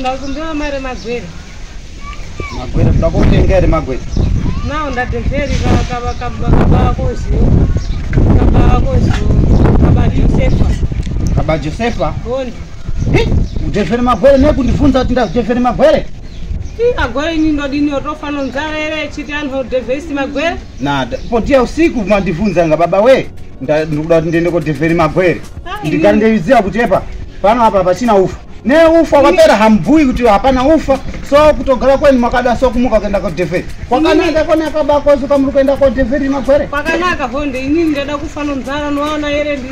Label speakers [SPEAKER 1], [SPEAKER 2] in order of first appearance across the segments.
[SPEAKER 1] ndakumbira mari magwere
[SPEAKER 2] magwere kuda kutenga here magwere nao
[SPEAKER 1] ndadhevheri kabakoziyo kabakoziyo kabajosefa kabajosefa
[SPEAKER 2] udhevheri magwere nekundibvunza kuti ndazidhevheri magwere agoini
[SPEAKER 1] ndodini otofana nzara here chiti anhodevhesi magwere nada potiya
[SPEAKER 2] usiku mandivhunza nga baba wee ndikuda kuti ndiende kodhevheri magwere ndigari ndeiziva kuti epa pano apa pachina ufa neufa kwapera hambui kuti hapana ufa so kutogara kweni makada so kumuka kuenda kodhevheri kwakanaka konaka bakozuka muri kuenda kodhevheri magwere kwakanaka honde
[SPEAKER 1] inini ndada kufana nzara noona here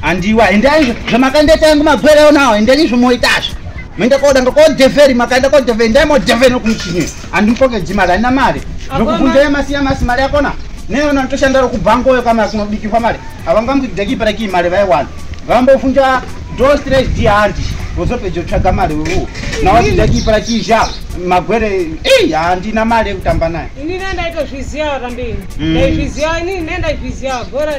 [SPEAKER 2] handiwa endai zvamakandiita yangu magwere onawo endeni zvimoitazvo mende koda ngokodhevheri makaenda kodhevheri ndai modhevheri nokumuchini handimupokedzi mari handina mari ndokubvunzai masiya masi mari yakona neona nditoshanda rokubhangoyo kamari kunobikirwa mari havangamudekiperakiyi mari vaiwana vambofunja do stress di handi vozopedza kutsvaga mari wewo nawachidakipara chizha magwere ei handina mari yekutamba naye ini nendaitozviziva
[SPEAKER 1] kambeni ndaizviziva hmm. ini nendaizviziva gora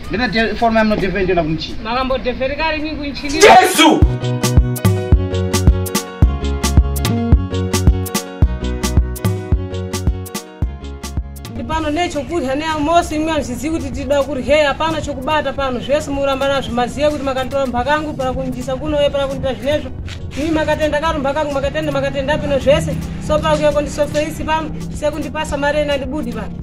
[SPEAKER 2] Ndinodhe form yam nodhevhe ndiona kumchi. Makambodhevheri kari mi
[SPEAKER 1] kunchini. Jesu! pano nechokudya neamosi imwe hazvizivi kuti tida kuryeyi hapana chokubata pano zvese muramba nazvo mazive kuti makanditora mumba kangu pana kunjisa kunoye pana kundiita zvinezvo imi makatenda karumba kangu makatenda makatenda pino zvese so pana kuyakondisofeisi pano sekundipasa mari ena ndibudi pano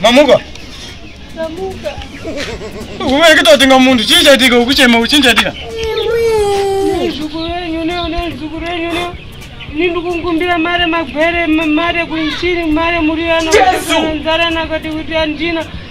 [SPEAKER 3] mamuka Ndamuka. kuvereketa kutenga munhu chii chaitika ukuchema uchii chaitika Nezukuru renyu
[SPEAKER 1] leo, nezukuru renyu leo. Ini ndikukumbira mare magwere, ma- mare kunchini, mare muriano. Jesu! Nzara nakati kuti andina.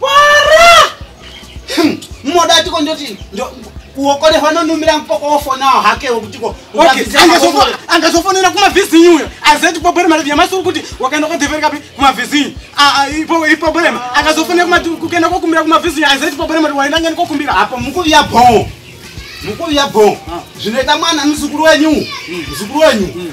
[SPEAKER 3] Para!
[SPEAKER 2] Hmm, Moda tiko ndoti uokole vanonumira mpoko wofonawo hake wokutiko
[SPEAKER 3] angazofonera kumavhizinyi uyo azeti problem mari yamasuru kuti wakaenda kodheveri kapi kumavhizinyi problem akazofonera kuenda kokumbira kumavhizinyi azeti problem mari waenda ngani kokumbira apo mukuviya bhoo
[SPEAKER 2] mukuviya bhoo zvinoita mwana muzukuru wenyu muzukuru wenyu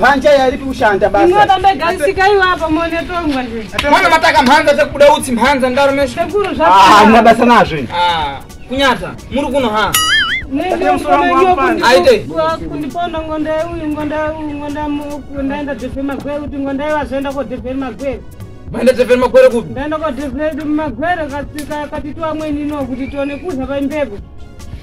[SPEAKER 2] Manja yaripi kushanda basa. Inga baba garisika
[SPEAKER 1] iwa apa mone tongwa nje. Mwana mataka mhanza
[SPEAKER 4] dzekubuda utsi mhanza ndaro mesho. Sekuru zvapo. Ah, hamuna
[SPEAKER 1] basa nazvo. Ah,
[SPEAKER 2] kunyata.
[SPEAKER 4] Muri kuno ha. Nenge mfana
[SPEAKER 1] ngiyo kundi. Aite. Kwa
[SPEAKER 4] kundi pondo
[SPEAKER 1] ngonda uyu ngonda uyu ngonda mu kunda enda defe magwere kuti ngonda iwa zenda ko defe magwere. Manda defe
[SPEAKER 4] magwere kupi? Manda ko defe
[SPEAKER 1] magwere katika katitwa mweni no kuti tone kuza pa mbebo.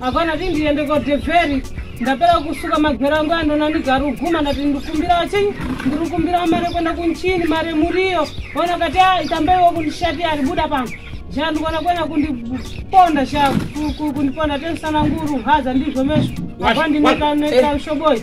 [SPEAKER 1] Hapana kuti ndiende kodhevheri ndapera kusuka magwero angu andona ndigaruguma ndati ndikumbirawo chinyi ndiri kumbirawo mari yekuenda kunchini mari muriyo ona kati a itambaiwo kundishati ari buda pano shaa ndikuona kuenda kundiponda shaa kundiponda tensana nguru haza ndizvo mesvo apa ndinekaushoboyi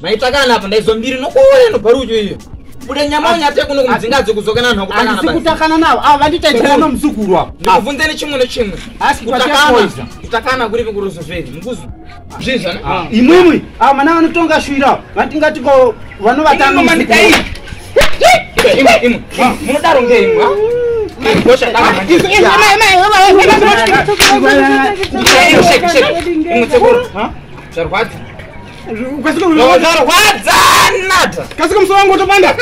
[SPEAKER 4] maitakana apa ndaizo mbiri nokuuya noparudyo iyo bude nyama unyate kuno kumudzinga adzi kudzokana vanhu vakutakana kutakana navo ava vandita
[SPEAKER 2] itaa nomuzukuru apo ndikubvunze nechimwe nechimwe
[SPEAKER 4] kutakana kuripi kurozovheri mukuzo zvinzvana ah. imwimwi ava ah, mana
[SPEAKER 2] vanotonga shwira vatingati ko vanovatanga munodaro
[SPEAKER 4] ngeimwa zvarwadzi kasika musoro wangu utopanda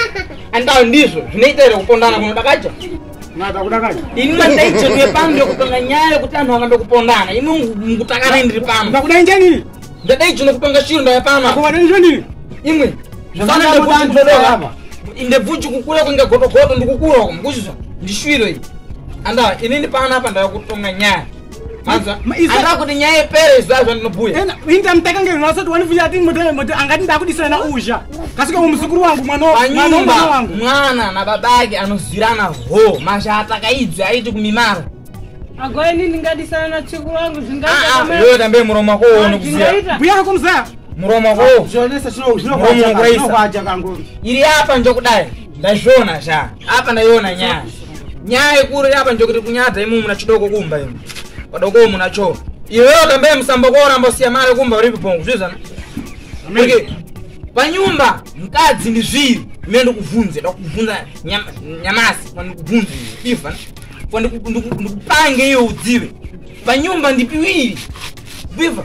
[SPEAKER 3] andao ndizvo
[SPEAKER 4] zvinoita here kupondana kunodakaja
[SPEAKER 3] ini mandaicho ndiwe
[SPEAKER 4] pano ndokupanga nyaya yekuti anhu anga ndokupondana ino ngutakana ndiri pano ndakudai njanini
[SPEAKER 3] ndadaicho nokupanga
[SPEAKER 4] chiro ndaya pano akuvadanizvondini
[SPEAKER 3] imwe
[SPEAKER 2] ndebvuchi
[SPEAKER 4] kukura kunge gotogoto ndikukura
[SPEAKER 2] uko
[SPEAKER 4] mukuzvizva ndishwiro iyi anda inini pano apa ndava kutonga nyaya andaa kuti nyaya
[SPEAKER 5] ipere
[SPEAKER 4] izvaa zvandinobhuya inda mutakange
[SPEAKER 5] zvino asati wanifuya ati moti angati ndakudisana na uzha kasika umuzukuru wangu mwananyumba
[SPEAKER 4] mwana
[SPEAKER 5] nababa
[SPEAKER 4] ake anozirana ho mashata kaidzi aiti kumimara agoini
[SPEAKER 1] ndingadisana na chikuru wangu zvingayoyo tambe muromo wako
[SPEAKER 4] uone kuziya buya kako mzaya
[SPEAKER 5] muromo wako
[SPEAKER 4] unouraisa iri
[SPEAKER 2] apa njokudai
[SPEAKER 4] ndazviona sha apa ndaiona nyaya nyaya ikuru apa ndokuti kunyadza imu muna chidoko kumba imu padoko muna cho iwewe kambe musambo koramba siya mari kumba uri pibongo zvizana okay panyumba mkadzi ndi zviri mine ndikuvhunze ndakuvhunza nyamasi pandikuvhunze iva pandikupange iwe udzive panyumba ndipiwiri biva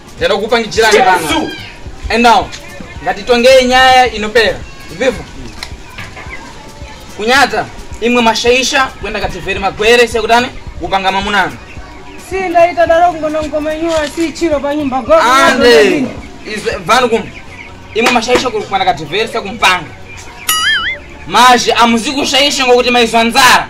[SPEAKER 4] Tenda kupangichirani pano. And now, ngatitongei nyaya inopera. Viva. Kunyata imwe mashaisha kwenda kativeri magwere sekutani kupanga mamunana. Si
[SPEAKER 1] ndaita daro kungono ngomenyuwa si chiro panyumba go. Ande.
[SPEAKER 4] Is vanu kum. Imwe mashaisha kwenda kativeri sekumpanga. Mazhi amuzikushaisha ngokuti maizwa nzara.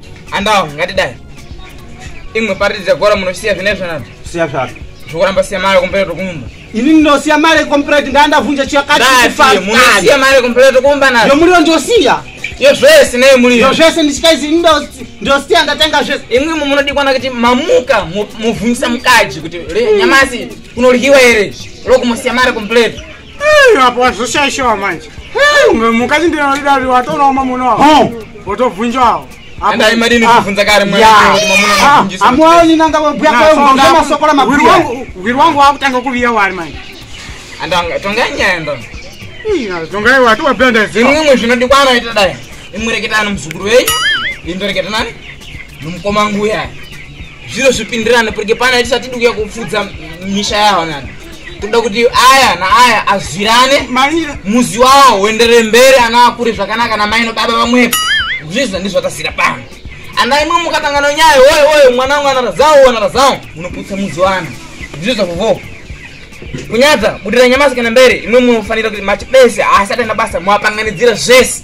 [SPEAKER 5] andawo ngatidai
[SPEAKER 4] imwe pariti dzegora munosiya zvine zvanani siya zvako
[SPEAKER 2] zvokuramba siya mari
[SPEAKER 4] kumbere tokumba ini ndinosiya mari
[SPEAKER 2] kompireti ndandavhunja chiyakatimunosiya
[SPEAKER 4] mari kumbere tokumba nayo yomuriwo ndosiya
[SPEAKER 2] yo zvese
[SPEAKER 4] nei muriyo yo zvese ndichikaizi ini
[SPEAKER 2] ndosiya ndatenga zvese imwe imwe munodikwana kuti
[SPEAKER 4] mamuka muvhunjisa mukadzi kuti nyamasi kunoryiwa here lokumusiya mari kumbere apo
[SPEAKER 5] wazoshaishawa manje unge mukadzi ndinodidari watonawo mamuna wavo wotobvunjawo
[SPEAKER 2] hwiri wangu wakutanga
[SPEAKER 5] kuviya wari manje tongaiwatowabendazimwe zvinodikwaanoita
[SPEAKER 4] dai imureketani muzukuru wenyu indoreketa nani nomukoma nguya zviro zvipindirane purike pana tisati dikuya kupfudza misha yaho nani kuda kuti aya naaya azwirane muzi
[SPEAKER 5] wawo uendere
[SPEAKER 4] mberi ana akure zvakanaka namai nobaba vamwepo zvizvo ndizvatasira pano ana imwe mukatangana nyaya woye woye mwana wangu anarazawo wanarazawo munoputsa muzi wana ndizvo zvavovoo kunyadza budira nyamasi kana mberi imwe munofanira kuti mati bese haasati ana basa mwapanganidzira zvese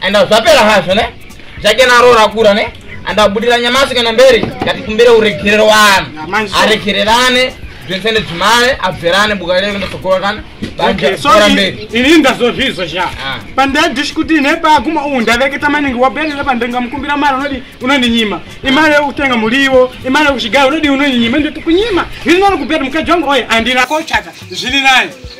[SPEAKER 4] and zvapera hazvo ne zvake naro rakura ne and abudira nyamasi kana mberi ngati kumbire uregerero wani aregererane zvese nedzimare abverane buka reve ndosokora kana baera
[SPEAKER 5] mberi ini ndazozvizo sha ah. pandadish kuti ine paguma uhu ndaveketa maningi waberere pandenga mukumbira mari unodi unondinyima imari yekutenga muriwo imari yekuchigara unodi unondinyima ndoti kunyima ini nani kuberi mukadzi wangu oye andina kochata zviri nani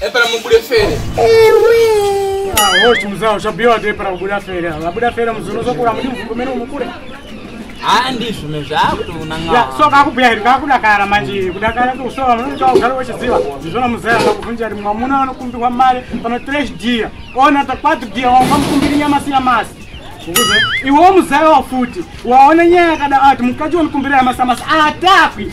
[SPEAKER 4] Epera mubude fere. Ewe. Ah,
[SPEAKER 5] wochi muzao chabiwa de para kubuda fere. Vabuda fere muzuno zokura mudi mvumbo meno mukure. Ah,
[SPEAKER 4] ndizvo mezvakuti unanga. Ya, so kakubhuya iri
[SPEAKER 5] kakudakara manje. Kudakara kuti usowa munoita ugare wechiziva. Ndizvona muzaya akakuvhunja kuti mwamuna anokumbirwa mari pano trash dear. Ona takwati dear wanga mukumbiri nyama sina masi. Ukuze iwo muzaya wafuti. Waona nyaya yakada ati mukadzi wonikumbira yamasamasa atakwi.